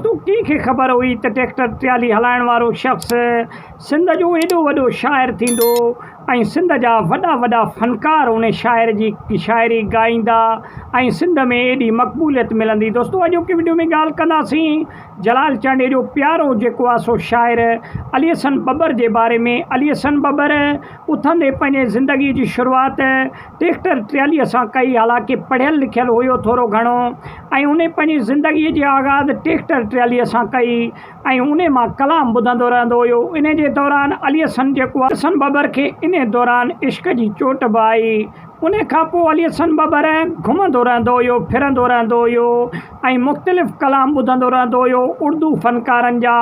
تون ڪنهن کي خبر هئي ته ٽريڪٽر ٽرالي هلائڻ وارو شخص سنڌ جو ايڏو وڏو شاعر ٿيندو ۽ سنڌ جا وڏا وڏا فنڪار ان شاعر جي شاعري ڳائيندا ۽ سنڌ ۾ ايڏي مقبوليت ملندي دوستو اڄوڪي وڊيو ۾ ڳالهه ڪنداسين جلال چانڊيي جو پيارو جيڪو آهي سو شاعر علي حسن ٻٻر جي باري ۾ علي حسن ٻٻر اٿندي پنهنجي زندگي جي شروعات ٽريڪٽر ٽراليء سان ڪئي، حالانڪه پڙهيل لکيل هيو ٿورو گهڻو ۽ انهي پنهنجي زندگي جي آغاز ٽريڪٽر ٽراليء سان ڪئي ۽ انهي مان ڪلام ٻڌندو رهندو هيو. انهي جي دوران علي حسن جيڪو آهي. حسن ٻٻر کي انهي دوران عشق جي چوٽ به آئي. انهي کان پوء علي حسن ٻٻر گهمندو رهندو هيو، ڦرندو رهندو هيو ۽ مختلف ڪلام ٻڌندو رهندو هيو، اردو فنڪارن جا.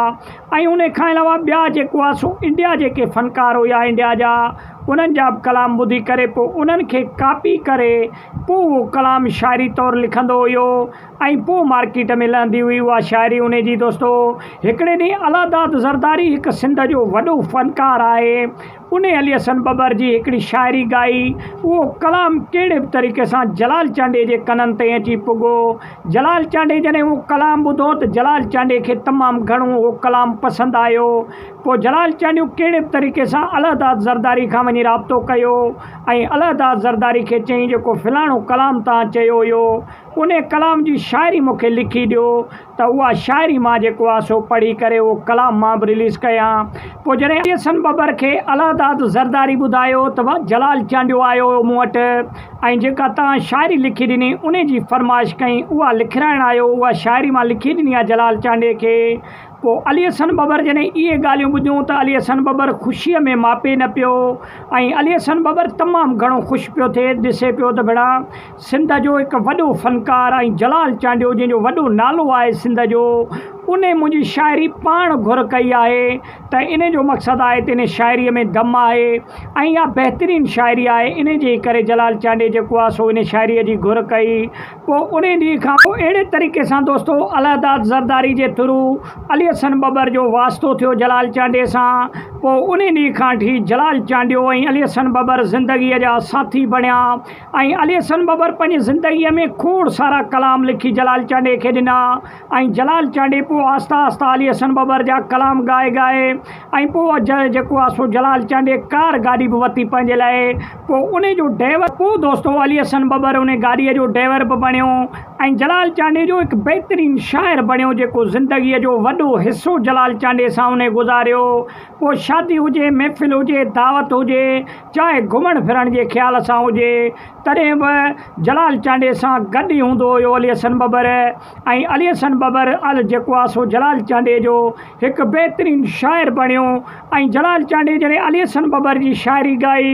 ۽ ان کان علاوه ٻيا جيڪو آ سو انڊيا جيڪي فنڪار هيا انڊيا جا انهن جا به ڪلام ٻڌي ڪري پوء انهن کي ڪاپي ڪري پوء اهو ڪلام شاعري طور لکندو هيو ۽ پوء مارڪيٽ ۾ لهندي هئي اها شاعري انهي جي دوستو هڪڙي ڏينهن الهه داد زرداري هڪ سنڌ جو وڏو فنڪار آهي انهيء علي حسن ٻٻر جي هڪڙي شاعري ڳائي، اهو ڪلام ڪهڙي به طريقي سان جلال چانڊيي جي ڪنن تائين اچي پڳو. جلال چانڊيي جڏهن اهو ڪلام ٻڌو ته جلال چانڊيي کي تمام گهڻو اهو ڪلام پسند آيو. پوء جلال چانڊيو ڪهڙي به طريقي سان الهداد زرداري کان وڃي رابطو ڪيو ۽ الهداد زرداري کي چيائين جيڪو فلاڻو ڪلام توهان چيو هيو، انهيء ڪلام جي شاعري مون کي لکي ڏيو. ته اها شاعري مان جيڪو آهي سو پڙهي ڪري اهو ڪلام مان به رليز ڪيان پوء جڏهن احسن ٻٻر کي الهداد زرداري ٻڌايو ته واهه جلال چانڊيو آيو هيو مون وٽ ۽ جيڪا توهان شاعري لکي ڏني انهي جي فرمائش ڪئين اها لکرائڻ آيو اها شاعري مان لکي ڏني آهي جلال چانڊيي کي پوء علي احسن ٻٻر جڏهن اهي ڳالهيون ٻڌيون ته علي احسن ٻٻر خوشيء ۾ ماپي نه پيو ۽ علي احسن ٻٻر تمام گهڻو خوش پيو ٿئي ڏسي پيو ته ڀيڻا سنڌ جو هڪ وڏو فنڪار ۽ جلال چانڊيو جنهن جو وڏو نالو آهي سنڌ جو ان منهنجي شاعري پاڻ گهر ڪئي آهي ته ان جو مقصد آهي ته ان شاعري ۾ دم آهي ۽ اها بهترين شاعري آهي ان جي ڪري جلال چانڊي جيڪو آهي سو ان شاعري جي گهر ڪئي پوء ان ڏينهن کان پوء اهڙي طريقي سان دوستو الهداد زرداري جي ٿرو علي حسن ٻٻر جو واسطو ٿيو جلال چانڊي سان پوء ان ڏينهن کان ٺي جلال چانڊيو ۽ علي حسن ٻٻر زندگي جا ساٿي بڻيا ۽ علي حسن ٻٻر پنهنجي زندگيء ۾ کوڙ سارا ڪلام لکي جلال چانڊيي کي ڏنا ۽ جلال چانڊيي پوء آهستي آهستي علي حسن ٻٻر جا ڪلام ڳائي ڳائي ۽ پوء جيڪو آهي سو جلال چانڊيي ڪار گاڏي به وتي پنهنجي لاء پوء ان جو ڊيور پوء دوستو علي حسن ٻٻر ان گاڏيء جو ڊيور به بڻيو ۽ جلال چانڊيي جو هڪ بهترين شاعر بڻيو جيڪو زندگيء جو وڏو حصو جلال چانڊيي سان ان گذاريو پوء شادي هجي محفل هجي دعوت هجي چاهي گهمڻ ڦرڻ جي خيال سان هجي، تڏهن به جلال چانڊيي سان گڏ ئي هوندو هيو علي حسن ٻٻر ۽ علي حسن ٻٻر ال جيڪو آ سو جلال چانڊيي جو هڪ بهترين شاعر بڻيو ۽ جلال چانڊيي جڏهن علي حسن ٻٻر جي شاعري ڳائي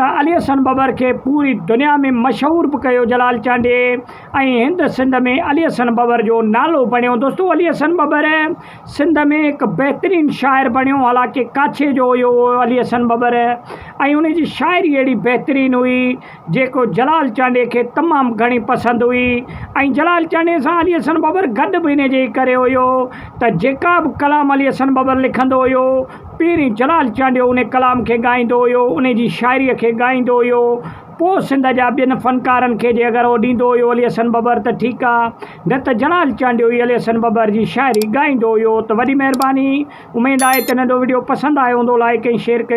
ته علي حسن ٻٻر کي پوري دنيا ۾ مشهور به ڪيو جلال چانڊيي ۽ هند سنڌ ۾ علي حسن ٻٻر جو نالو بڻيو دوستو علي حسن ٻٻر سنڌ ۾ هڪ بهترين شاعر بڻيو، حالانڪه ڪاڇي جو هيو اهو علي حسن ٻٻر ۽ ان جي شاعري اهڙي بهترين هئي، جيڪو جلال چانڊيي کي تمام گهڻي پسند هئي ۽ جلال چانڊيي سان علي حسن ٻٻر گڏ به ان جي ئي ڪري هيو ته جيڪا به ڪلام علي حسن ٻٻر لکندو هيو، پهرين جلال چانڊيو ان ڪلام کي ڳائيندو هيو، ان جي شاعريء کي ڳائيندو هيو، پوء سنڌ جا ٻين فنڪارن کي جي اگر اهو ڏيندو هيو علي حسن ٻٻر ته ٺيڪ آ. نه ته جلال چانڊيوي علي حسن ٻٻر جي شاعري ڳائيندو هيو ته وڏي مهرباني اميد آهي ته ننڍو وڊيو پسند آيو هوندو لائيڪ ۽ شيئر ڪيو.